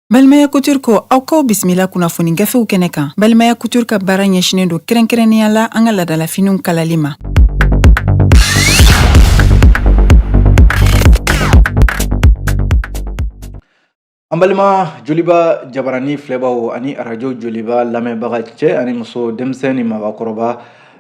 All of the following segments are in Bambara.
Balimaya Couture ko aw kaw bisimila kunnafoni gafew kɛnɛ kan Balimaya Couture ka baara ɲɛsinen don kɛrɛnkɛrɛnnenya la an ka ladalafiniw kalali ma. An balima joliba jabaranin filɛbaw ani arajo joliba lamɛnbaga cɛ ani muso denmisɛnnin ni mabakɔrɔba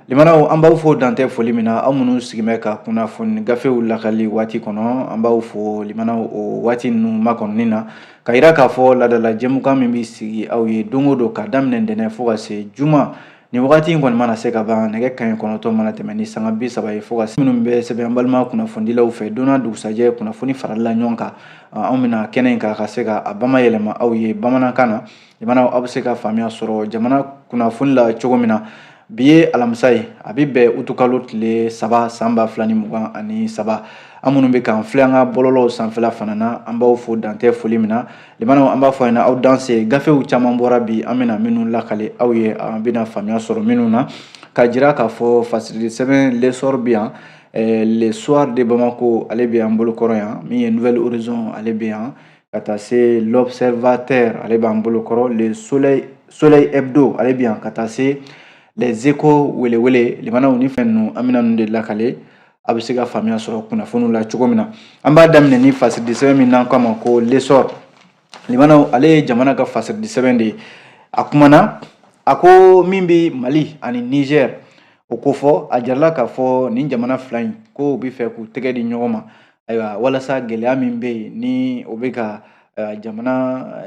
limanaw an b'aw fo dan tɛ foli min na aw minnu sigilen bɛ ka kunnafoni gafew lakali waati kɔnɔ an b'aw fo limanaw o waati ninnu makɔnɔni na ka jira k'a fɔ ladala jɛmukan min bɛ sigi aw ye don o don ka daminɛ ntɛnɛn fo ka se juma Nin wagati in kɔni mana se ka ban nɛgɛ kanɲɛ kɔnɔntɔ mana tɛmɛn ni sanga bi saba ye fo ka minnu bɛ sɛbɛn balima kunnafonidilaw fɛ donna dugusajɛ kunnafoni faralen ɲɔgɔn kan anw bɛ na kɛnɛ in kan ka se ka a bamayɛlɛma aw ye bamanankan na limanaw aw bɛ se ka faamuya sɔrɔ jamana kunnafoni la cogo min na bi ye alamisa ye a bɛ bɛn utukalo tile saba san ba fila ni mugan ani saba aw minnu bɛ k'an filɛ an ka bɔlɔlɔw sanfɛla fana na an b'aw fo dan tɛ foli min na Limanaw an b'a fɔ ɲɛna aw danse gafew caman bɔra bi an bɛna minnu lakale aw ye an bɛna faamuya sɔrɔ minnu na ka jira k'a fɔ fasili sɛbɛn l'Essor bi yan eh, le soir de Bamako ale bɛ an bolo kɔrɔ yan min ye Nouvel Horizon ale bɛ yan ka taa se l'observateur ale b'an bolo kɔrɔ le soleil hebdo ale bɛ yan ka taa se les échos welewele limanaw ni fɛn ninnu an bɛna ninnu de lakale a bɛ se ka faamuya sɔrɔ kunnafoniw la cogo min na an b'a daminɛ ni fasidi sɛbɛn min n'an k'a ma ko l'Essor limanaw ale ye jamana ka fasidi sɛbɛn de ye a kumana a ko min bɛ mali ani nizɛr o ko fɔ a jirala k'a fɔ nin jamana fila in ko u bɛ fɛ k'u tɛgɛ di ɲɔgɔn ma ayiwa walasa gɛlɛya min bɛ yen ni o bɛ ka jamana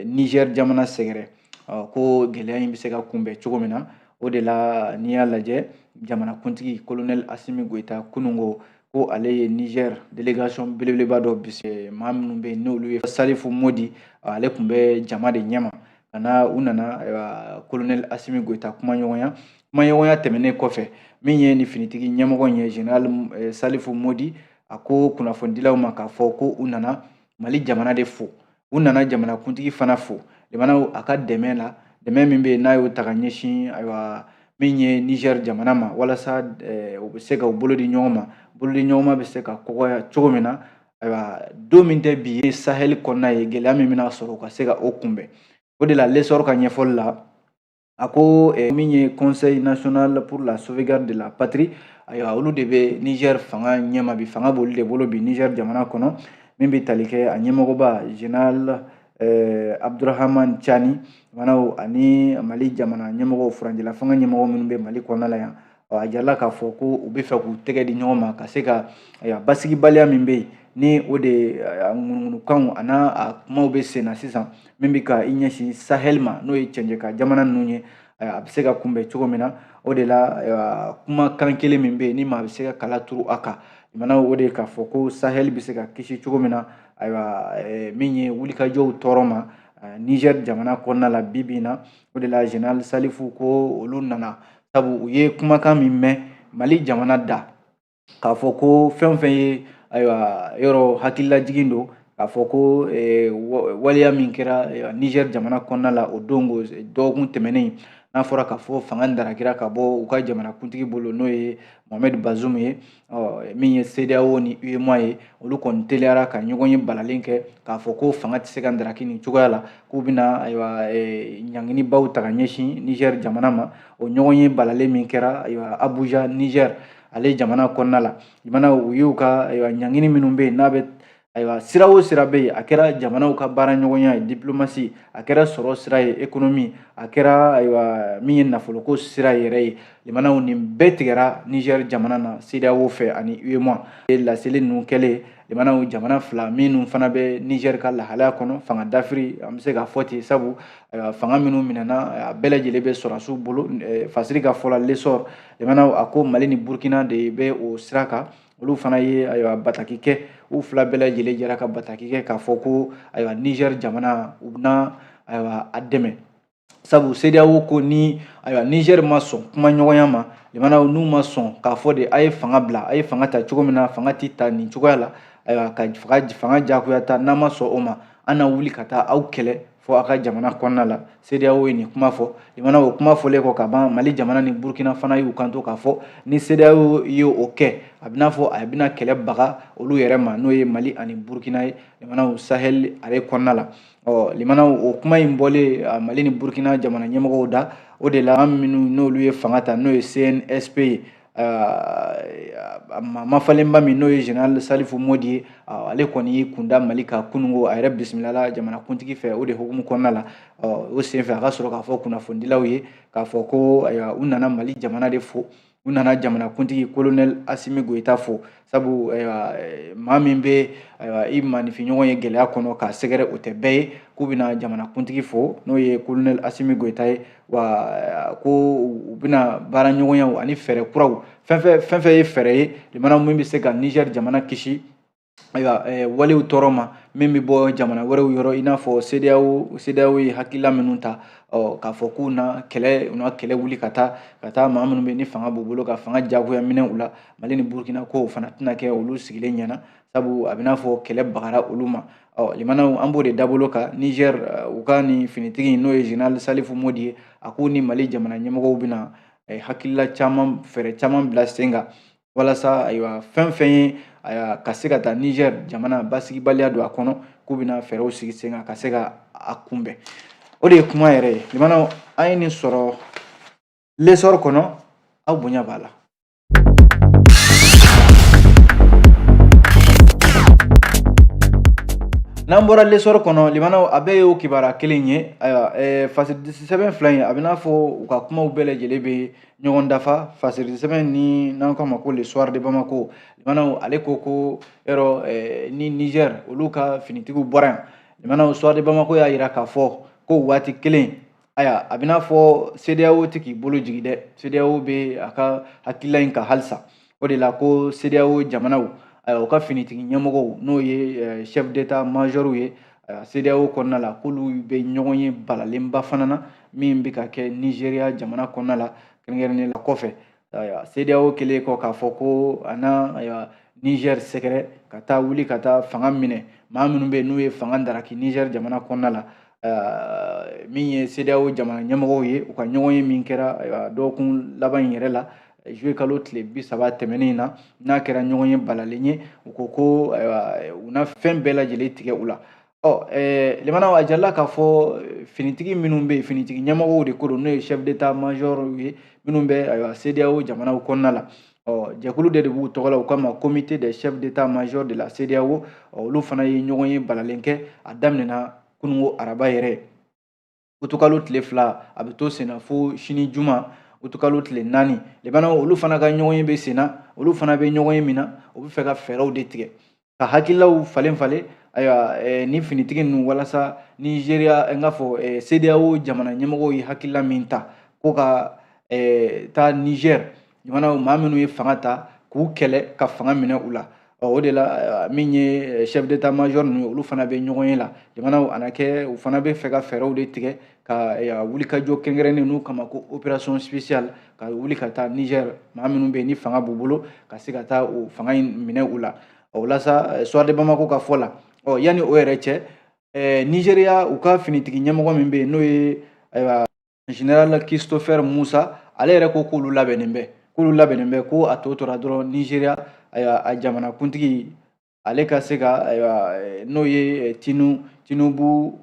nizɛr jamana sɛgɛrɛ ɔ ko gɛlɛya in bɛ se ka kunbɛn cogo min na o de la n'i y'a lajɛ jamanakuntigi kolonɛli asimi goyita kunun ko ko ale ye niger delegation belebeleba dɔ bisimila minnu bɛ yen n'olu ye salifu modi ale tun bɛ jama de ɲɛma ka na u nana kolonɛli asimi goyita kumaɲɔgɔnya kumaɲɔgɔnya tɛmɛnen kɔfɛ min ye nin finitigi ɲɛmɔgɔ in ye general eh, salifu modi a ko kunnafonidilaw ma k'a fɔ ko u nana mali jamana de fo u nana jamanakuntigi fana fo limanaw a ka dɛmɛ la dɛmɛ min bɛ yen n'a y'o ta ka ɲɛsin ayiwa min ye Niger jamana ma walasa eh, u bɛ se ka u bolo di ɲɔgɔn ma bolo di ɲɔgɔn ma bɛ se ka kɔgɔya cogo min na ayiwa don min tɛ bi ye sahɛli kɔnɔna yen gɛlɛya min bɛna sɔrɔ u ka se ka o kunbɛn o de la l'Essor ka ɲɛfɔli la a ko eh, min ye conseil national pour la sauvegarde de la patrie ayiwa olu de bɛ niger fanga ɲɛma bi fanga b'olu de bolo bi niger jamana kɔnɔ min bɛ tali kɛ a ɲɛmɔgɔba general eh, abdurahaman cani limanaw ani mali jamana ɲɛmɔgɔw furancɛ la fanga ɲɛmɔgɔ minnu bɛ mali kɔnɔna la yan ɔ a jirala k'a fɔ ko u bɛ fɛ k'u tɛgɛ di ɲɔgɔn ma ka se ka ayiwa basigibaliya min bɛ yen ni o de ŋunuŋunukanw a n'a a kumaw bɛ sen na sisan min bɛ ka i ɲɛsin sahɛli ma n'o ye cɛncɛka jamana ninnu ye a bɛ se ka kunbɛn cogo min na o de la kumakan kelen min bɛ yen ni maa bɛ se ka kala turu a kan limanaw o de k'a fɔ ko sahɛli bɛ se ka kisi cogo min na ayiwa min ye wulikajɔw tɔɔrɔ ma nizɛri jamana kɔnɔna la bi bi in na o de la general salifu ko olu nana sabu u ye kumakan min mɛn mali jamana da k'a fɔ ko fɛn o fɛn ye ayiwa yɔrɔ hakililajigin don k'a fɔ ko eh, waleya min kɛra eh, niger jamana kɔnɔna la o don ko eh, dɔgɔkun tɛmɛnen n'a fɔra k'a fɔ fanga darakira ka bɔ u ka jamanakuntigi bolo n'o ye mohamɛd bazum ye ɔ min ye CEDEAO ni UEMOA ye olu kɔni teliyara ka ɲɔgɔnye balalen kɛ k'a fɔ ko fanga tɛ se ka ndaraki nin cogoya la k'u bɛna ayiwa e, ɲanginibaw ta ka ɲɛsin Niger jamana ma o ɲɔgɔnye balalen min kɛra ayiwa Abuja Nigeria ale jamana kɔnɔna la limanaw u y'u ka ayiwa ɲangini minnu bɛ yen n'a bɛ ayiwa sira o sira bɛ yen a kɛra jamanaw ka baaraɲɔgɔnya ye diplomasi a kɛra sɔrɔ sira ye ekonomi a kɛra ayiwa min ye nafoloko sira yɛrɛ ye limanaw nin bɛɛ tigɛra nizɛri jamana na sedeyawo fɛ ani uema laseli ninnu kɛlen limanaw jamana fila minnu fana bɛ nizɛri ka lahalaya kɔnɔ fanga dafiri an bɛ se k'a fɔ ten sabu fanga minnu minɛna a bɛɛ lajɛlen bɛ sɔrɔdasiw bolo fasiri ka fɔ la lesɔr limanaw a ko mali ni burukina de bɛ o sira kan olu fana ye ayiwa bataki kɛ u fila bɛɛ lajɛlen jɛra ka bataki kɛ k'a fɔ ko ayiwa nizɛri jamana u bɛna ayiwa a dɛmɛ sabu sedeyawo ko ni ayiwa nizɛri ma sɔn kumaɲɔgɔnya ma limanaw n'u ma sɔn k'a fɔ de a ye fanga bila a ye fanga ta cogo min na fanga tɛ ta nin cogoya la ayiwa ka fanga jagoya ta n'a ma sɔn o ma an na wuli ka taa aw kɛlɛ fo a ka jamana kɔnɔna la CEDEAO ye nin kuma fɔ limanaw o kuma fɔlen kɔ ka ban Mali jamana ni Burkina fana y'u kanto k'a fɔ ni CEDEAO ye o kɛ a bɛ n'a fɔ a bɛna kɛlɛ baga olu yɛrɛ ma n'o ye Mali ani Burkina ye limanaw Sahel ale kɔnɔna la ɔ limanaw o kuma in bɔlen Mali ni Burkina jamana ɲɛmɔgɔw da o de la an minnu n'olu ye fanga ta n'o ye CNSP ye a mafalenba min n'o ye général Salifu Modi ye ale kɔni y'i kunda Mali kan kunungo a yɛrɛ bisimilala jamanakuntigi fɛ o de hukumu kɔnɔna la o senfɛ a ka sɔrɔ k'a fɔ kunnafonidilaw ye k'a fɔ ko u nana Mali jamana de fo u nana jamanakuntigi colonel Asimi Goyita fo sabu eh, maa min bɛ i manifinɲɔgɔn ye gɛlɛya kɔnɔ k'a sɛgɛrɛ o tɛ bɛɛ ye k'u bɛna jamanakuntigi fo n'o ye kolonɛli asimi goyita ye wa eh, ko u bɛna baara ɲɔgɔnyaw ani fɛɛrɛ kuraw fɛn fɛn fɛn ye fɛɛrɛ ye limanaw min bɛ se ka nizɛri jamana kisi ayiwa eh, walew tɔɔrɔ ma min bɛ bɔ jamana wɛrɛw yɔrɔ i n'a fɔ sedeyawo sedeyawo ye hakilila minnu ta ɔ k'a fɔ k'u na kɛlɛ u na kɛlɛ wuli ka taa ka taa maa minnu bɛ ni fanga b'u bolo ka fanga jagoya minɛ u la mali ni burukina ko o fana tɛna kɛ olu sigilen ɲɛna sabu a bɛ n'a fɔ kɛlɛ bagara olu ma ɔ limanaw an b'o de dabolo kan niger eh, u ka nin finitigi n'o ye général salifu modi ye a k'u ni mali jamana ɲɛmɔgɔw bɛna eh, hakilila caman fɛɛrɛ caman bila sen kan walasa ayiwa fɛn fɛn ye ka se ka taa niger jamana basigibaliya don a kɔnɔ k'u bɛna fɛɛrɛw sigi sen kan ka se ka a kunbɛn o de ye kuma yɛrɛ ye limanaw an ye nin sɔrɔ lesɔr kɔnɔ aw bonya b'a la n'an bɔra lesɔrɔ kɔnɔ limanaw a bɛɛ ye o kibaruya kelen ye ayiwa ɛɛ fasiridi sɛbɛn fila in a bɛ n'a fɔ u ka kumaw bɛɛ lajɛlen bɛ ɲɔgɔn dafa fasiridi sɛbɛn nin n'an k'a ma ko le soir de bamako limanaw ale ko ko yɔrɔ ɛɛ ni niger olu ka finitigiw bɔra yan limanaw soir de bamako y'a jira k'a fɔ ko o waati kelen ayiwa a bɛ n'a fɔ sedeyawo tɛ k'i bolo jigin dɛ sedeyawo bɛ a ka hakilila in kan halisa o de la ko sedeyawo jamanaw ayiwa u ka finitigi ɲɛmɔgɔw n'o ye eh, chef d'état majɔriw ye ayiwa sedeyawo kɔnɔna la k'olu bɛ ɲɔgɔn ye balalenba fana na min bɛ ka kɛ nizeriya jamana kɔnɔna la kɛrɛnkɛrɛnnen la kɔfɛ ayiwa CEDEAO kɛlen kɔ k'a fɔ ko a na ayiwa Niger sɛgɛrɛ ka taa wuli ka taa fanga minɛ maa minnu bɛ yen n'u ye fanga daraki Niger jamana kɔnɔna la ayiwa min ye CEDEAO jamana ɲɛmɔgɔw ye u ka ɲɔgɔn ye min kɛra ayiwa dɔgɔkun laban in yɛrɛ la juillet kalo tile bi saba tɛmɛnen in na n'a kɛra ɲɔgɔn ye balalen ye u ko ko ayiwa u na fɛn bɛɛ lajɛlen tigɛ u la ɔ ɛɛ limanaw a jalila k'a fɔ finitigi minnu bɛ yen finitigi ɲɛmɔgɔw de ko don n'o ye chef d'état major ye minnu bɛ ayiwa CEDEAO jamanaw kɔnɔna la ɔ jɛkulu de de b'u tɔgɔ la u k'a ma comité des chefs d'état major de la CEDEAO ɔ olu fana ye ɲɔgɔn ye balalen kɛ a daminɛna kunungo araba yɛrɛ utukalo tile fila a bɛ to senna fo sini juma utukalo tile naani limanaw olu fana ka ɲɔgɔn ye bɛ senna olu fana bɛ ɲɔgɔn ye min na u bɛ fɛ ka fɛɛrɛw de tigɛ ka hakililaw falen falen ayiwa eh, ni finitigi ninnu walasa nizeriya eh, n k'a fɔ eh, sedeyawo jamana ɲɛmɔgɔw ye hakilila min ta ko ka eh, taa nizɛri jamana maa minnu ye fanga ta k'u kɛlɛ ka fanga minɛ u la ɔ o de la eh, min ye eh, chef d'état major ninnu ye olu fana bɛ ɲɔgɔn ye la jamanaw a na kɛ u fana bɛ fɛ ka fɛɛrɛw de tigɛ ka eh, wulikajɔ kɛrɛnkɛrɛnnen n'u k'a ma ko opération spéciale ka wuli ka taa niger maa minnu bɛ yen ni fanga b'u bolo ka se ka taa o fanga in minɛ u la o la sa soir de bamako ka fɔ la ɔ yanni o yɛrɛ cɛ nigeria u ka finitigi ɲɛmɔgɔ min bɛ yen n'o ye ayiwa général christopher musa ale yɛrɛ ko k'olu labɛnnen bɛ k'olu labɛnnen bɛ ko a tɔ tora dɔrɔn nigeria ayiwa a jamanakuntigi ale ka se ka ayiwa eh, n'o ye eh, tinu tinubu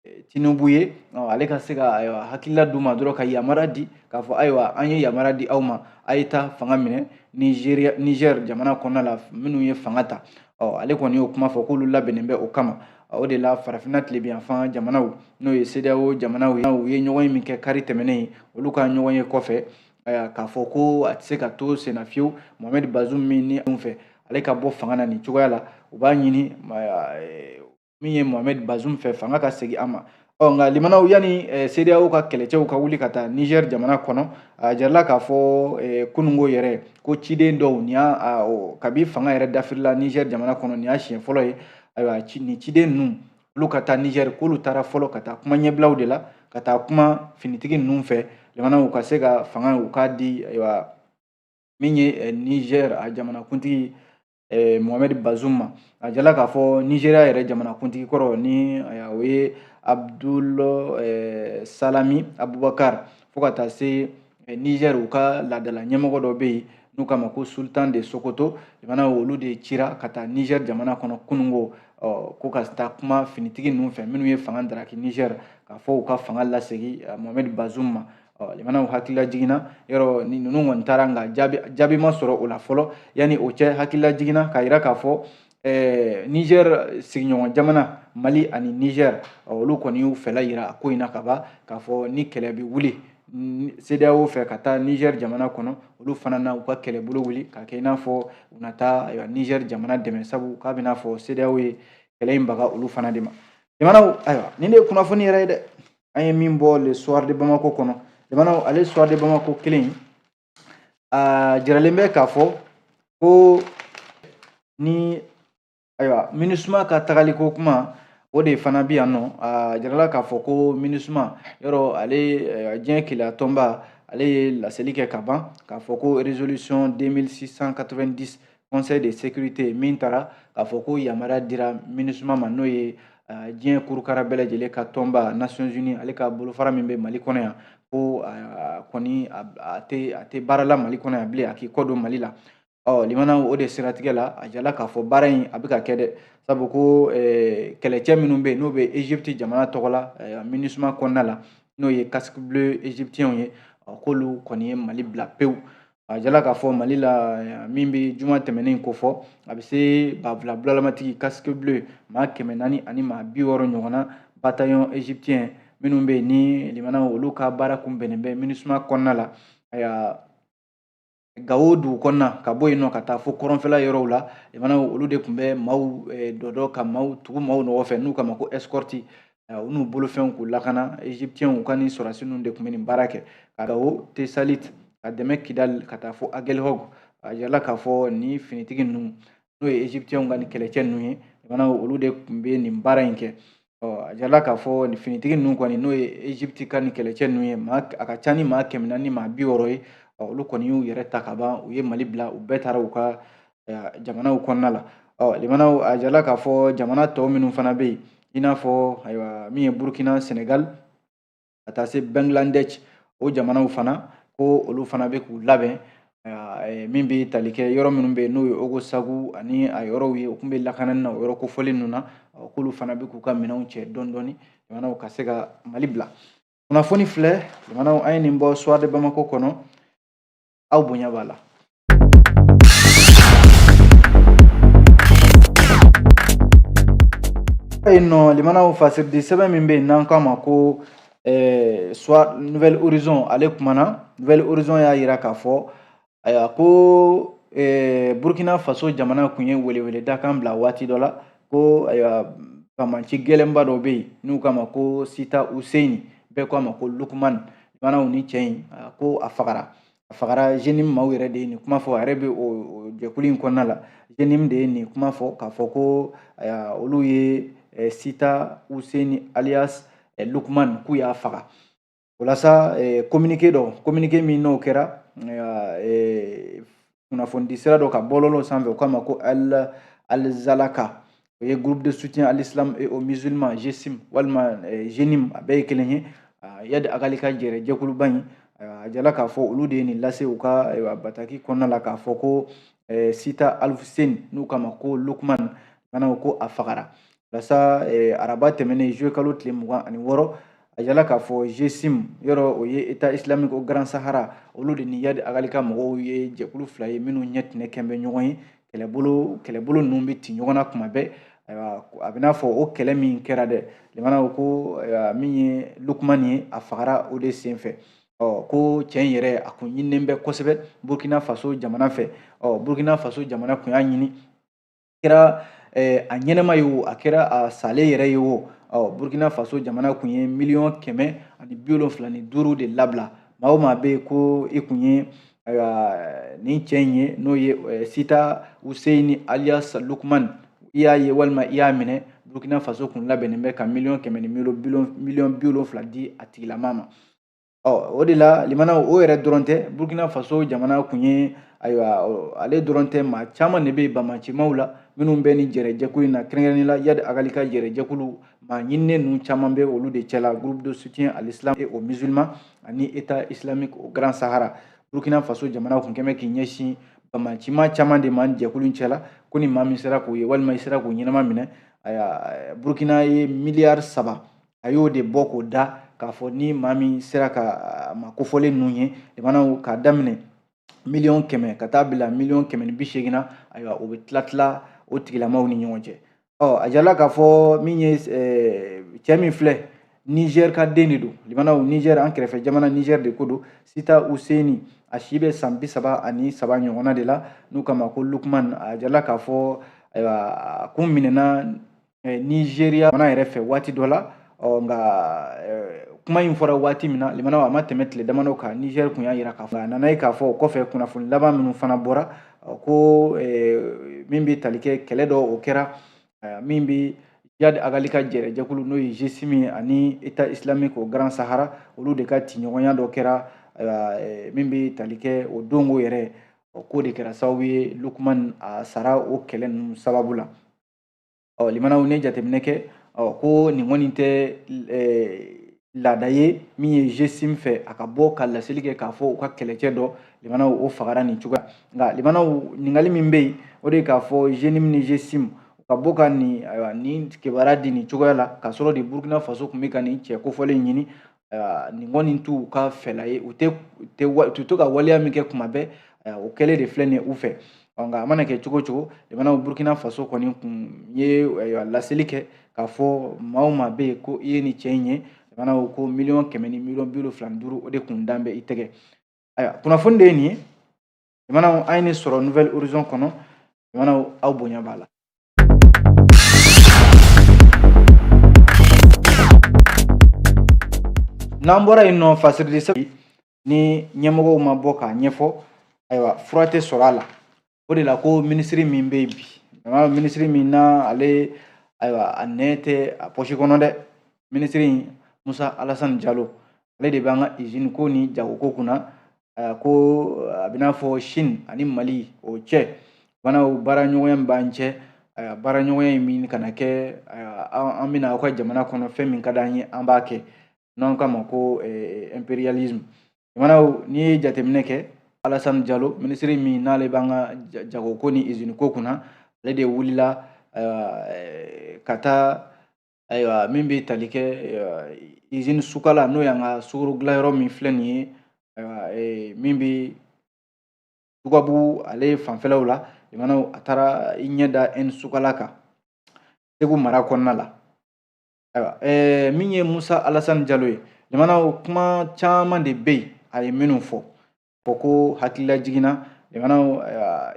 eh, tinubu ye ale ka se ka ayiwa hakilila d'u ma dɔrɔn ka yamara di k'a fɔ ayiwa an ye yamara di aw ma a ye taa fanga minɛ nigeria niger jamana kɔnɔna la minnu ye fanga ta ɔ ale kɔni y'o kuma fɔ k'olu labɛnnen bɛ o kama o de la farafinna tilebiyanfan jamanaw n'o ye CEDEAO jamanaw ye u ye ɲɔgɔnye min kɛ kari tɛmɛnen olu ka ɲɔgɔnye kɔfɛ k'a fɔ ko a tɛ se ka to senna fiyewu Mohamed Bazoum min ni anw fɛ ale ka bɔ fanga na nin cogoya la u b'a ɲini min ye mohamed bazoum fɛ fanga ka segin a ma ɔ nka limanaw yanni eh, CEDEAO ka kɛlɛcɛw ka wuli ka taa niger jamana kɔnɔ a jirala k'a fɔ eh, kunungo yɛrɛ ko ciden dɔw nin y'a kabi fanga yɛrɛ dafirila niger jamana kɔnɔ nin y'a siɲɛ fɔlɔ ye ayiwa nin ciden ninnu olu ka taa niger k'olu taara fɔlɔ ka taa kuma ɲɛbilaw de la ka taa kuma finitigi ninnu fɛ limanaw u ka se ka fanga u k'a di ayiwa min ye eh, niger a jamanakuntigi eh, Mohamed Bazoum ma a jirala k'a fɔ Nigeria yɛrɛ jamanakuntigi kɔrɔ ni eh, o ye Abdul eh, Salami Abubakar fo ka taa se eh, Niger u ka laadala ɲɛmɔgɔ dɔ bɛ yen n'u k'a ma ko Sultan de Sokoto jamana olu de cira ka taa Niger jamana kɔnɔ kunungo ɔ ko ka taa kuma finitigi ninnu fɛ minnu ye fanga daraki Niger k'a fɔ u ka fanga lasegin eh, Mohamed Bazoum ma limanaw hakili lajiginna yɔrɔ ni ninnu kɔni taara nka jaabi jaabi ma sɔrɔ o la fɔlɔ yanni o cɛ hakili lajiginna k'a yira k'a fɔ Eh, niger sigiɲɔgɔn jamana mali ani niger olu kɔni y'u fɛla yira a ko in na ka ban k'a fɔ ni kɛlɛ bɛ wuli CEDEAO fɛ ka taa Niger jamana kɔnɔ olu fana na u ka kɛlɛbolo wuli ka kɛ i n'a fɔ u na taa Niger jamana dɛmɛ sabu k'a bɛ n'a fɔ CEDEAO ye kɛlɛ in baga olu fana de ma limanaw ayiwa nin de ye kunnafoni yɛrɛ ye dɛ an ye min bɔ le soir de bamako kɔnɔ limanaw ale soir de bamako kelen a jiralen bɛ k'a fɔ ko ni ayiwa MINUSMA ka tagaliko kuma o de fana bɛ yan nɔ a jirala k'a fɔ ko MINUSMA yɔrɔ ale diɲɛ kelenya tɔnba ale ye laseli kɛ ka ban k'a fɔ ko résolution 2690 conseil de sécurité min tara k'a fɔ ko yamaruya dira minusuma ma n'o ye diɲɛ kurukara bɛɛ lajɛlen ka tɔnba nations unies ale ka bolofara min bɛ mali kɔnɔ yan ko kɔni a tɛ a tɛ baara la mali kɔnɔ yan bilen a k'i kɔ don mali la ɔ limanaw o de siratigɛ la a jala k'a fɔ baara in a bɛ ka kɛ dɛ sabu ko kɛlɛcɛ minnu bɛ yen n'o bɛ egypte jamana tɔgɔ la minusuma kɔnɔna la n'o ye casque bleu egyptiens ye k'olu kɔni ye mali bila pewu a jala k'a fɔ mali la min bɛ juma tɛmɛnen ko fɔ a bɛ se banfula bulalamatigi casque bleu maa kɛmɛ naani ani maa bi wɔɔrɔ ɲɔgɔnna bataillon égyptien minnu bɛ yen ni limanaw olu ka baara kun bɛnnen bɛ minusuma kɔnɔna la ayiwa gawo dugu kɔnɔna ka bɔ yen nɔ ka taa fo kɔrɔnfɛla yɔrɔw la limanaw olu de tun bɛ maaw dɔdɔ ka maaw tugu maaw nɔgɔ fɛ n'u k'a ma ko escorte u n'u bolofɛnw k'u lakana egyptiens u ka ni sɔrɔdasi ninnu de tun bɛ nin baara kɛ ka gawo tesalit ka tɛmɛ kidali ka taa fo agelhog a yirala k'a fɔ ni finitigi ninnu n'o ye egyptiens ka ni kɛlɛcɛ ninnu ye limanaw olu de tun bɛ nin baara in kɛ a yirala k'a fɔ nin finitigi ninnu kɔni n'o ye egypte ka ni kɛlɛcɛ ninnu ye maa a ka ca ni maa kɛmɛ naani ni maa bi wɔɔrɔ ye olu kɔni y'u yɛrɛ ta ka ban u ye mali bila u bɛɛ taara u ka jamanaw kɔnɔna la ɔ limanaw a jala k'a fɔ jamana tɔw minnu fana bɛ yen i n'a fɔ ayiwa min ye burukina senegal ka taa se bangladesh o jamanaw fana ko olu fana bɛ k'u labɛn min bɛ tali kɛ yɔrɔ minnu bɛ yen n'o ye ogosagu ani a yɔrɔw ye u tun bɛ lakanani na o yɔrɔ kofɔlen ninnu na k'olu fana bɛ k'u ka minɛnw cɛ dɔɔni dɔɔni limanaw ka se ka mali bila kunnafoni filɛ limanaw an ye nin bɔ soir de bamako kɔnɔ aw bonya b'a la yen nɔ limanaw fasiridi sɛbɛn min bɛ yen n'an k'a ma ko eh, soit nouvel horizon ale kumana nouvel horizon y'a jira k'a fɔ ayiwa ko eh, burkina faso jamana kun ye weleweleda kan bila waati dɔ la ko ayiwa banbaanci gɛlɛnba dɔ bɛ yen n'u k'a ma ko sita useni bɛɛ k'a ma ko lukuman manaw ni cɛ in ko a fagara a fagara zenim maaw yɛrɛ de ye nin kuma fɔ a yɛrɛ bɛ o jɛkulu in kɔnɔna la zenim de ye nin kuma fɔ k'a fɔ ko olu ye sita useni alias lukman k'u y'a faga o la sa kominike dɔ kominike min n'o kɛra kunnafonidi sira dɔ ka bɔlɔlɔ sanfɛ u k'a ma ko alizalaka o ye groupe de soutien à l'islam et aux musulmans GSIM walima eh, JNIM a bɛɛ ye kelen ye iyadi agali ka jɛrɛ jɛkuluba in a jala k'a fɔ olu de ye nin lase u ka eh, bataki kɔnɔna la k'a fɔ ko eh, sita alfuseni n'u k'a ma ko lukman manaw ko a fagara walasa araba tɛmɛnen zuye kalo tile mugan ani wɔɔrɔ a yirala k'a fɔ jesim yɔrɔ o ye état islamique au grand sahara olu de ni yadi agali ka mɔgɔw ye jɛkulu fila ye minnu ɲɛ tɛnɛ kɛlen bɛ ɲɔgɔn ye kɛlɛbolo kɛlɛbolo ninnu bɛ ci ɲɔgɔn na kuma bɛɛ ayiwa a bɛ n'a fɔ o kɛlɛ min kɛra dɛ limanaw ko min ye lukman ye a fagara o de sen fɛ ɔ ko cɛ in yɛrɛ a kun ɲininen bɛ kosɛbɛ burkina faso jamana fɛ ɔ burkina faso jamana kun y'a ɲini kɛra eh, a ɲɛnama ye o a kɛra a salen yɛrɛ ye o ɔ burkina faso jamana kun ye miliyɔn kɛmɛ ani bi wolonfila ni duuru de labila maa o maa bɛ yen ko i kun ye ayiwa nin cɛ in ye n'o ye eh, sita useyini alias lukman i y'a ye walima i y'a minɛ burkina faso kun labɛnnen bɛ ka miliyɔn kɛmɛ ni miliyɔn bi wolonfila di a tigilamaa ma ɔ o de la limanaw o yɛrɛ dɔrɔn tɛ burukina faso jamana kun ye ayiwa ale dɔrɔn tɛ maa caman de bɛ bamacimaw la minnu bɛ nin jɛrɛjɛkulu in na kɛrɛnkɛrɛnnen la yadi agali ka jɛrɛjɛkulu maa ɲininen ninnu caman bɛ olu de cɛla groupe de soutien à l'islam et aux musulmans ani état islamique au grand sahara burkina faso jamana kun kɛmɛ k'i ɲɛsin bamacima caman de ma jɛkulu in cɛla ko ni maa min sera k'o ye walima i sera k'o ɲɛnama minɛ burkina ye miliyari saba a y'o de bɔ k'o da k'a fɔ ni maa min sera ka maa kofɔlen ninnu ye limanaw k'a daminɛ miliyɔn kɛmɛ ka taa bila miliyɔn kɛmɛ ni bi seegin na ayiwa o bɛ tila tila o tigilamaaw ni ɲɔgɔn cɛ ɔ a jirala k'a fɔ min ye cɛ min filɛ nizɛri ka den de don limanaw nizɛri an kɛrɛfɛ jamana nizɛri de ko don sita useni a si bɛ san bi saba ani saba ɲɔgɔnna de la n'u k'a ma ko lukman a jirala k'a fɔ ayiwa a kun minɛna eh, nizeriya fana yɛrɛ fɛ waati dɔ la ɔ nka eh, kuma in fɔra waati min na limanaw a ma tɛmɛ tile damadɔ kan nizɛri tun y'a jira k'a fɔ a nana ye k'a fɔ o kɔfɛ kunnafoni laban minnu fana bɔra ko eh, min bɛ tali kɛ kɛlɛ dɔ o kɛra min bɛ yadi agali ka jɛrɛjɛkulu n'o ye jesim ani état islamique au grand sahara olu de ka tiɲɔgɔnya dɔ kɛra eh, min bɛ tali kɛ o donko yɛrɛ k'o de kɛra sababu ye lukman a sara o kɛlɛ ninnu sababu la ɔ limanaw n'i ye jateminɛ kɛ ɔ ko nin kɔni tɛ laada ye min ye jesim fɛ a ka bɔ ka laseli kɛ k'a fɔ u ka kɛlɛcɛ dɔ limanaw o fagara nin cogoya nka limanaw ɲininkali min bɛ yen o de ye k'a fɔ jenim ni jesim ka bɔ ka nin ayiwa nin kibaruya di nin cogoya la k'a sɔrɔ de burukina faso tun bɛ ka nin cɛ kofɔlen ɲini nin kɔni t'u ka fɛla ye u tɛ u tɛ wa u tɛ to ka waleya min kɛ kuma bɛɛ o kɛlen de filɛ nin ye u fɛ ɔ nka a mana kɛ cogo o cogo limanaw burukina faso kɔni kun ye laseli kɛ k'a fɔ maa o maa bɛ yen ko i ye nin cɛ in ye limanaw ko ko miliyɔn kɛmɛ ni miliyɔn bi wolonfila ni duuru o de kun dalen bɛ i tɛgɛ ayiwa kunnafoni de ye nin ye jamanaw an ye nin sɔrɔ nouvel horizon kɔnɔ jamanaw aw bonya b'a la n'an bɔra yen nɔ fasirili sɛbɛn ni ɲɛmɔgɔw ma bɔ k'a ɲɛfɔ ayiwa fura tɛ sɔrɔ a la o de la ko minisiri min bɛ yen bi jamana minisiri min na ale ayiwa a nɛn tɛ a pɔsi kɔnɔ dɛ minisiri in musa alasani jalo ale de b'an ka izini ko ni jagoko kunna eh, ko eh, a bɛn'a fɔ Chine ani Mali o cɛ fana o baaraɲɔgɔnya min b'an cɛ eh, baaraɲɔgɔnya in min kana kɛ an bɛna aw ka jamana kɔnɔ fɛn min ka d'an ye an b'a kɛ n'an k'a ma ko imperialisme jamanaw n'i ye jateminɛ kɛ Alassane Diallo minisiri min n'ale b'an ka jagoko ni izini ko kunna ale de wulila ka taa ayiwa min bɛ tali kɛ izini sukala n'o y'an ka sukoro dilanyɔrɔ min filɛ nin ye ayiwa min bɛ dugabugu ale fanfɛlaw la limanaw a taara i ɲɛ da ɛni sukala kan segu mara kɔnɔna la ayiwa ɛɛ min ye musa alasani jalo ye limanaw kuma caman de bɛ yen a ye minnu fɔ fɔ ko hakilila jiginna limanaw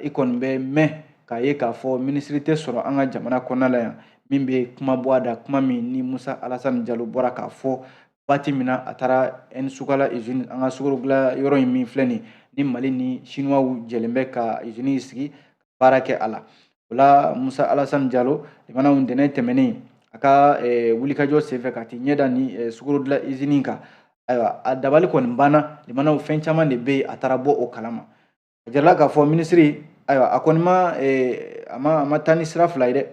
i kɔni bɛ mɛn k'a ye k'a fɔ minisiri tɛ sɔrɔ an ka jamana kɔnɔna la yan min bɛ kuma bɔ a da kuma min ni musa alasani jalo bɔra k'a fɔ waati min na a taara ɛnisukala izini an ka sukoro dilan yɔrɔ in min filɛ nin ni mali ni sinuwaw jɛlen bɛ ka izini sigi baara kɛ a la o la musa alasani jalo limanaw ntɛnɛn tɛmɛnen a ka eh, wulikajɔ senfɛ ka t'i ɲɛda ni eh, sukorodilan izini kan ayiwa a dabali kɔni banna limanaw fɛn caman de bɛ yen a taara bɔ o kalama a jirala k'a fɔ minisiri ayiwa a kɔni ma eh, a ma a ma taa ni sira fila ye dɛ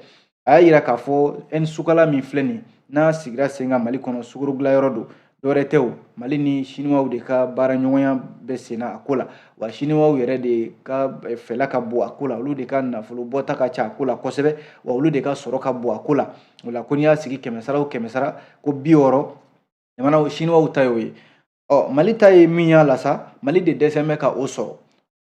a y'a yira k'a fɔ ɛn sukala min filɛ nin n'a sigira sen kan mali kɔnɔ sukoro dilanyɔrɔ don dɔwɛrɛ tɛ o mali ni siniwaw de ka baaraɲɔgɔnya bɛ senna a ko la wa siniwaw yɛrɛ de ka eh, fɛla ka bon a ko la olu de ka nafolo bɔta ka ca a ko la kosɛbɛ wa olu de ka sɔrɔ ka bon a ko la o la ko n'i y'a sigi kɛmɛ sara o kɛmɛ sara ko bi wɔɔrɔ jamanaw siniwaw ta y'o ye Ɔ mali ta ye min y'a la sa mali de dɛsɛn bɛ ka o sɔrɔ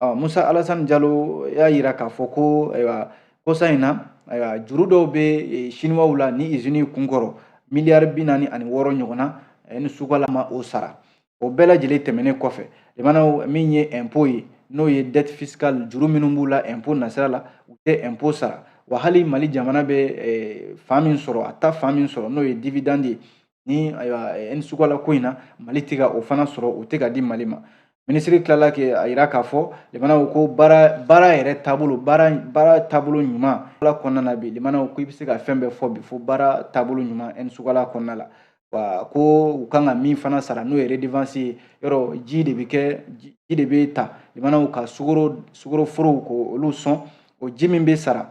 ɔ musa alasan jalo y'a jira k'a fɔ ko ayiwa kosa in na ayiwa juru dɔw bɛ e, siniwaw la ni izini kunkɔrɔ miliyari bi naani ani wɔɔrɔ ɲɔgɔnna ɛni sukala ma o sara o bɛɛ lajɛlen tɛmɛnen kɔfɛ jamanaw min ye ɛnpo ye n'o ye dɛt fisikal juru minnu b'u la ɛnpo nasira la u tɛ ɛnpo sara wa hali mali jamana bɛ e, fan min sɔrɔ a ta fan min sɔrɔ n'o ye dividandi ye ni ayiwa ɛni sukala ko in na mali tɛ ka o fana sɔrɔ o tɛ ka di mali ma minisiri tilala k'a yira k'a fɔ limanaw ko baara baara yɛrɛ taabolo baara baara taabolo ɲuman ala kɔnɔna na bi limanaw ko i bɛ se ka fɛn bɛɛ fɔ bi fo baara taabolo ɲuman ɛni sukala kɔnɔna la wa ko u kan ka min fana sara n'o ye redevance ye yɔrɔ ji de bɛ kɛ ji de bɛ ta limanaw ka sukoro sukoro forow k'olu sɔn o ji min bɛ sara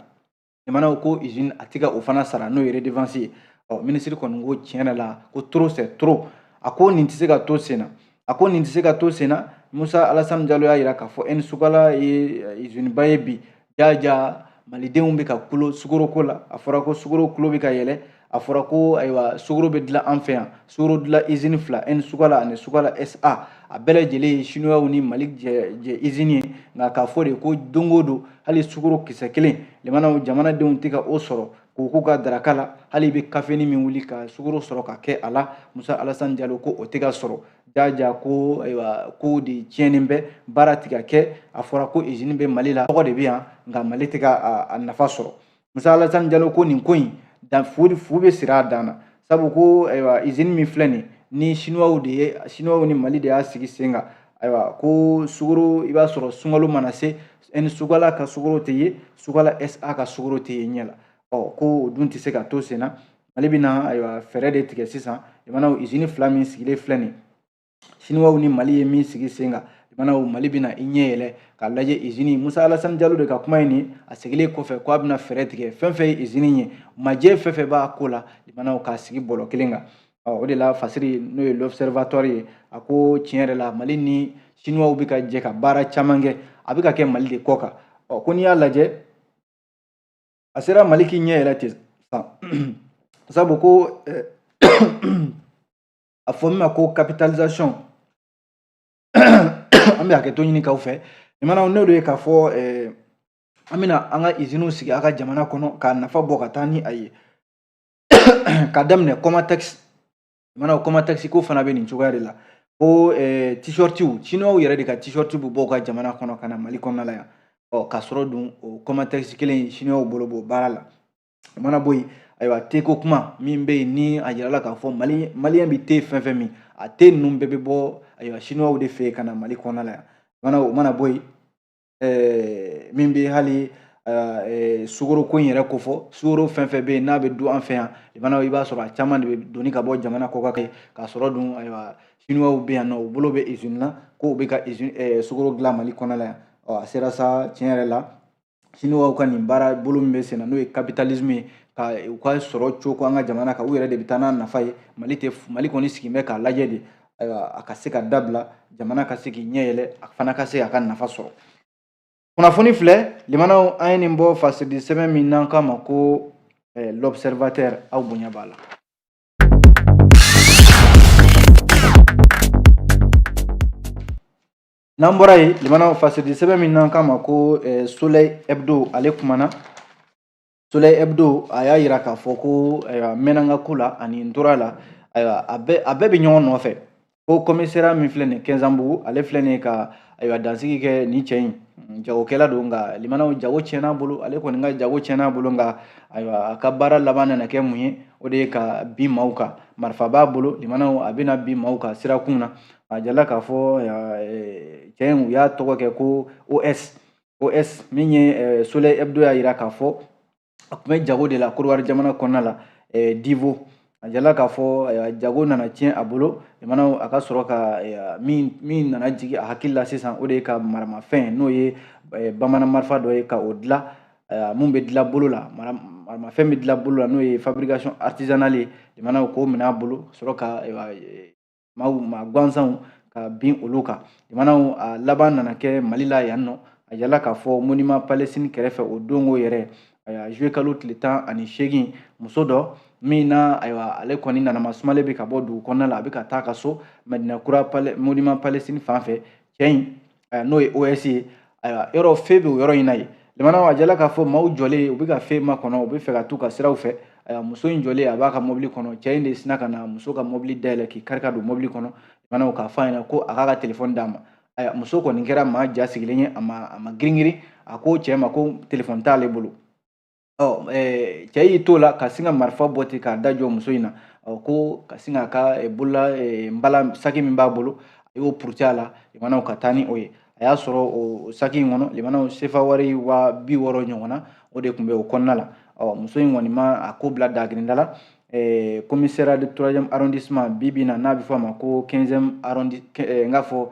jamanaw ko izini a tɛ ka o fana sara n'o ye redevansi ye ɔ minisiri kɔni ko tiɲɛ yɛrɛ la ko trop c'est trop a ko nin tɛ se ka to sen na a ko nin tɛ se ka to sen na musa alasani jalo y'a yira k'a fɔ ɛni sukala ye eh, iziniba ye bi jaja malidenw bɛ ka kulo sukoroko la a fɔra ko sukoro kulo bɛ ka yɛlɛ a fɔra ko ayiwa sukoro bɛ dilan an fɛ yan sukoro dilan izini fila ɛni sukala ani sukala sa a bɛɛ lajɛlen ye sinuwaw ni mali jɛ izini ye nka k'a fɔ de ko don o don hali sukoro kisɛ kelen limanaw jamanadenw tɛ ka o sɔrɔ k'o k'u ka daraka la hali i bɛ kafeni min wuli ka sukoro sɔrɔ ka kɛ a la musa alasani jalo ko o tɛ ka sɔrɔ jaja ko ayiwa ko de tiɲɛnen bɛ baara tɛ ka kɛ a fɔra ko izini bɛ mali la tɔgɔ de bɛ yan nka mali tɛ ka a nafa sɔrɔ musa alasani jalo ko nin ko in dan fu fu bɛ siri a dan na sabu ko ayiwa izini min filɛ nin ni sinuwaw de ye sinuwaw ni mali de y'a sigi sen kan ayiwa ko sukoro i b'a sɔrɔ sunkalo mana se ɛni sukala ka sukoro tɛ ye sukala sa ka sukoro tɛ ye ɲɛ la ɔ ko o dun tɛ se ka to sen na mali bɛna ayiwa fɛɛrɛ de tigɛ sisan jamanaw izini fila min sigilen filɛ nin siniwaw ni mali ye min sigi sen kan jamanaw mali bɛna i ɲɛ yɛlɛ k'a lajɛ izini musa alasani jalo de ka kuma ye nin a segilen kɔfɛ k'a bɛna fɛɛrɛ tigɛ fɛn fɛn ye izini ye majɛ fɛn fɛn b'a ko la jamanaw k'a sigi bɔlɔ kelen kan o de la fasiri n'o ye l'observatoire ye a ko tiɲɛ yɛrɛ la mali ni siniwaw bɛ ka jɛ ka baara caman kɛ a bɛ ka kɛ mali de kɔ kan ɔ ko n'i y'a lajɛ a sera mali k'i ɲɛ yɛlɛ ten sisan sabu ko a fɔ min ma ko capitalisation an bɛ hakɛto ɲini k'aw fɛ jamanaw n'o de ye k'a fɔ eh, an bɛna an ka iziniw sigi a ka jamana kɔnɔ k'a nafa bɔ ka taa ni a ye ka daminɛ kɔmatɛkisi jamanaw kɔmatɛkisi ko fana bɛ nin cogoya de la ko eh, t-shirtiw chinois yɛrɛ de ka t-shirti bɛ bɔ u ka jamana kɔnɔ ka na mali kɔnɔna la yan ɔ k'a sɔrɔ dun o kɔmatɛkisi kelen chinois bolo b'o baara la o mana bɔ yen ayiwa teko kuma min bɛ yen ni a yirala k'a fɔ mali maliyɛn bɛ te fɛn fɛn min a te ninnu bɛɛ bɛ bɔ ayiwa sinuwaw de fɛ yen ka na mali kɔnɔna la yan mana o mana bɔ yen ɛɛ min bɛ hali ɛɛ sukoro ko in yɛrɛ ko fɔ sukoro fɛn fɛn bɛ yen n'a bɛ dun an fɛ yan bana i b'a sɔrɔ a caman de bɛ doni ka bɔ jamana kɔkan kɛ k'a sɔrɔ dun ayiwa sinuwaw bɛ yan nɔ u bolo bɛ izini na k'u bɛ ka izini ɛɛ sukoro dilan mali kɔnɔna la yan ɔ a sera sa tiɲɛ yɛrɛ la siniwaw ka nin baara bolo min bɛ senna n'o ye capitalisme ye ka u ka sɔrɔ coko an ka jamana kan u yɛrɛ de bɛ taa n'a nafa ye mali tɛ mali kɔni sigilen bɛ k'a lajɛ de ayiwa a ka se ka dabila jamana ka se k'i ɲɛ yɛlɛ a fana ka se a ka nafa sɔrɔ kunnafoni filɛ limanaw an ye nin bɔ fasidi sɛbɛn min n'an k'a ma ko eh, l'observateur aw bonya b'a la n'an bɔra yen limanaw fasidi sɛbɛn min n'an k'a ma ko eh, soleil hebdo ale kumana soleil hebdo a y'a yira k'a fɔ ko ayiwa n mɛnna n ka ko la ani n tor'a la ayiwa a bɛɛ a bɛɛ bɛ ɲɔgɔn nɔfɛ ko commissariat min filɛ nin ye kɛnzanbugu ale filɛ nin ye ka ayiwa dansigi kɛ nin cɛ in mm, jagokɛla don nka limanaw jago tiɲɛna a bolo ale kɔni ka jago tiɲɛna a bolo nka ayiwa a ka baara laban nana kɛ mun ye o de ye ka bin maaw kan marifa b'a bolo limanaw a bɛna bin maaw kan sirakun na a jala k'a fɔ cɛ in u y'a tɔgɔ kɛ ko os os min ye soleil hebdo y'a yira k'a fɔ a tun bɛ jago de la kodiwari jamana kɔnɔna la divo a jala k'a fɔ jago nana tiɲɛ a bolo limanaw a ka sɔrɔ ka min nana jigin a hakili la sisan o de ye ka maramafɛn n'o ye bamanan marifa dɔ ye ka o dilan min bɛ dilan bolo la maramafɛn bɛ dilan bolo la n'o ye fabrication artisanale ye limanaw k'o minɛ a bolo ka sɔrɔ ka maaw maa gansanw ka bin olu kan jamanaw a laban nana kɛ mali la yan nɔ a jala k'a fɔ monument palestine kɛrɛfɛ o don o yɛrɛ ayiwa juin kalo tile tan ani seegin muso dɔ min na ayiwa ale kɔni nana masumalen bɛ ka bɔ dugu kɔnɔna la a bɛ ka taa ka so madina kura monument palestine fan fɛ cɛ in n'o ye OS ye ayiwa yɔrɔ feu bɛ o yɔrɔ in na yen limanaw a jala k'a fɔ maaw jɔlen u bɛ ka feu makɔnɔ u bɛ fɛ ka t'u ka siraw fɛ ayiwa muso in jɔlen a b'a ka mɔbili kɔnɔ cɛ in de sina ka na muso ka mɔbili dayɛlɛ k'i kari ka don mɔbili kɔnɔ limanaw k'a fɔ a ɲɛna ko a k'a ka telefɔni d'a ma ayiwa muso kɔni kɛra maa ja sigilen ye a ma a ma girin girin a ko cɛ ma ko telefɔni t'ale bolo ɔ eh, cɛ y'i t'o la ka sin ka marifa bɔ ten k'a da jɔ muso in na ɔ ko ka sin k'a ka eh, bolola eh, nbala saki min b'a bolo a y'o puruti a la limanaw ka taa ni o ye a y'a sɔrɔ o saki in kɔnɔ limanaw sefa wari waa bi wɔɔrɔ ɲɔgɔn na o de tun bɛ o kɔnɔna la ɔ muso in kɔni ma a ko bila dagirinda la commissariat de troisième arrondissement bi bi in na n'a bɛ fɔ a ma ko quinzième arrondi n k'a fɔ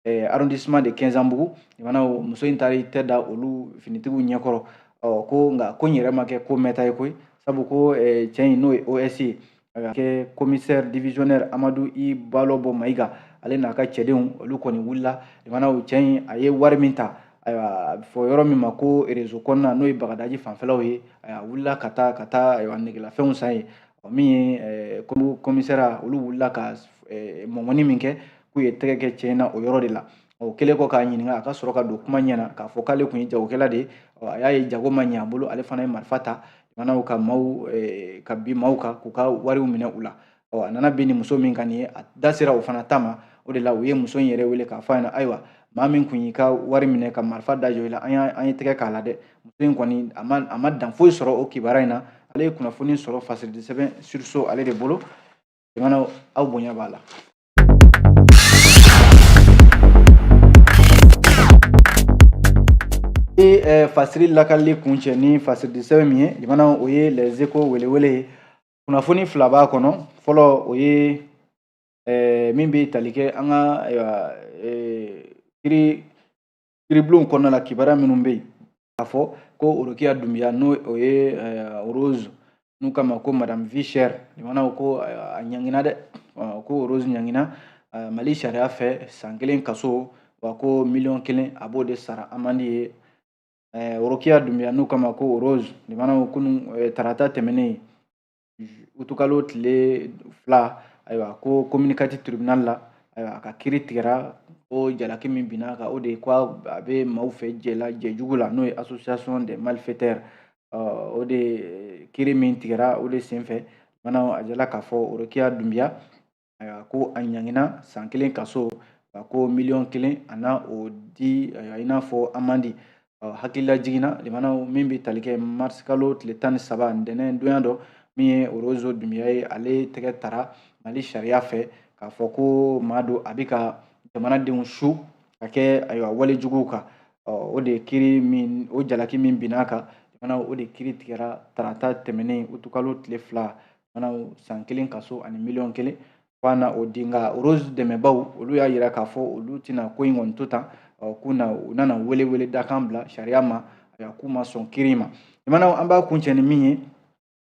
eh, arrondissement de kɛnzanbugu limanaw muso in taara i tɛ da olu finitigiw ɲɛkɔrɔ ɔ ko nka ko in yɛrɛ ma kɛ ko mɛnta ye koyi sabu ko eh, cɛ in n'o ye os ye a ka kɛ commissaire divisionnaire amadu i balobɔ mayiga ale n'a ka cɛdenw olu kɔni wulila limanaw cɛ in a ye wari min ta ayiwa a bɛ fɔ yɔrɔ min ma ko rezo kɔnɔna n'o ye bagadaji fanfɛlaw ye a wulila ka taa ka taa ayiwa negelafɛnw san ye min ye eh, commissaire olu wulila ka eh, mɔmɔni min kɛ k'u ye tɛgɛ kɛ cɛ in na o yɔrɔ de la o kɛlen kɔ k'a ɲininka a ka sɔrɔ ka don kuma ɲɛna k'a fɔ k'ale tun ye jagokɛla de ye a y'a ye jago ma ɲɛ a bolo ale fana ye marifa ta jamanaw ka maaw eh, ka bin maaw kan k'u ka wariw minɛ u la a nana bin ni muso min kan nin ye a da sera o fana ta ma o de la u ye muso in yɛrɛ wele k'a fɔ a ɲɛna ayiwa maa min tun y'i ka wari minɛ ka marifa da jɔ i la an y'a an ye tɛgɛ k'a la dɛ muso in kɔni a ma a ma dan foyi sɔrɔ o kibaruya in na ale ye kunnafoni sɔrɔ fasiridi sɛbɛn sursaut ale de bolo jamanaw aw bonya b'a la ye fasiri lakalili kuncɛ ni fasiridi sɛbɛn min ye jamanaw o ye les échos welewele ye kunnafoni fila b'a kɔnɔ fɔlɔ o ye min bɛ tali kɛ an ka ayiwa kiri kiribulonw kɔnɔna la kibaruya minnu bɛ yen k'a fɔ ko orokiya dunbiya n'o o ye eh, rose n'u k'a ma ko madame vie chère jamanaw ko eh, a ɲangina dɛ ko rose ɲangina eh, mali sariya fɛ san kelen kaso wa ko miliyɔn kelen a b'o de sara amende ye orokiya dunbiya n'u k'a ma ko rose jamanaw kunu tarata tɛmɛnen utukalo tile fila ayiwa ko commune quatre tribunal la ayiwa a ka kiri tigɛra o jalaki min binna a kan o de ye ko a bɛ maaw fɛ jɛla jɛjugu la n'o ye association des malfaiteurs o de kiri min tigɛra o de senfɛ jamanaw a jirala k'a fɔ orokiya dunbiya ayiwa ko a ɲangina san kelen kaso a ko miliyɔn kelen a na o di ayiwa i n'a fɔ amende hakililajigin na jamanaw min bɛ tali kɛ marisi kalo tile tan ni saba ntɛnɛn don y'a dɔn min ye rose dunbiya ye ale tɛgɛ tara mali sariya fɛ k'a fɔ ko maa don a bɛ ka jamanadenw su ka kɛ ayiwa wale juguw kan o de kiri min o jalaki min binna a kan fana o de kiri tigɛra tarata tɛmɛnen utukalo tile fila fana san kelen kaso ani miliyɔn kelen f'a na o di nka rose dɛmɛbaw olu y'a yira k'a fɔ olu tɛna ko in kɔni to tan k'u na u nana welewele dakan bila sariya ma ayiwa k'u ma sɔn kiri ma jamanaw an b'a kuncɛ ni min ye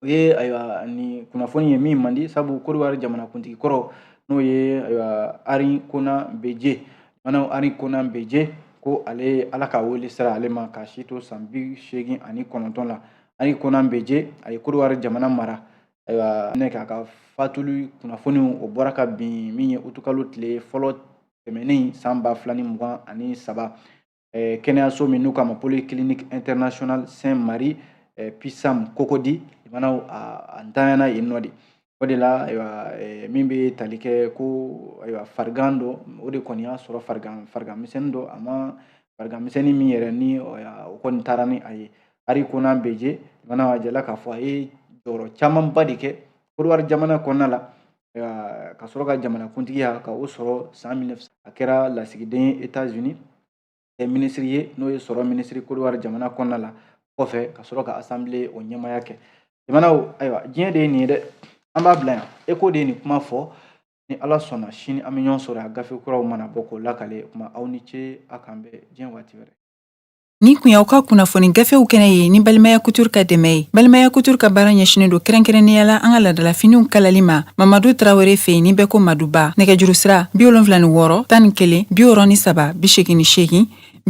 o ye ayiwa nin kunnafoni ye min man di sabu kodiwari jamanakuntigi kɔrɔ n'o ye ayiwa henri konan bédié jamanaw henri konan bédié ko ale ala ka wele sera ale ma ka si to san bi seegin ani kɔnɔntɔn la henri konan bédié a ye kodiwari jamana mara ayiwa k'a ka fatuli kunnafoni o bɔra kabini min ye utukalo tile fɔlɔ tɛmɛnen san ba fila ni mugan ani saba kɛnɛyaso min n'u k'a ma polyclinique internationale sainte marie pisam cocody jamanaw a ntanyana yen nɔ de o de la ayiwa eh, min bɛ tali kɛ ko ayiwa farigan dɔ o de kɔni y'a sɔrɔ farigan misɛnnin dɔ a ma farigan misɛnnin min yɛrɛ ni o kɔni taara ni a ye henri konan bédié mana jala k'a fɔ a ye jɔyɔrɔ camanba de kɛ kodiwari jamana kɔnɔna la ka sɔrɔ ka jamanakuntigiya ka o sɔrɔ san 19 a kɛra lasigiden ye etats unis kɛ minisiri ye n'o ye sɔrɔ minisiri kodiwari jamana kɔnɔna la kɔfɛ ka sɔrɔ ka asanbile o ɲɛmaaya kɛ jamanaw ayiwa diɲɛ de ye nin ye dɛ an b'a bila yan eko de ye nin kuma fɔ ni ala sɔnna sini an bɛ ɲɔgɔn sɔrɔ a gafe kuraw mana bɔ k'o lakale kuma aw ni ce a k'an bɛn diɲɛ waati wɛrɛ Nin tun y'aw ka kunnafoni gafew kɛnɛ ye ni balimaya couture ka dɛmɛ ye balimaya couture ka baara ɲɛsinnen don kɛrɛnkɛrɛnnenya la an ka laadalafiniw kalali ma mamadu tarawele fɛ yen ni bɛɛ ko maduba nɛgɛjuru sira bi wolonfila ni wɔɔrɔ tan ni kelen bi wɔɔrɔ ni saba bi segin ni segin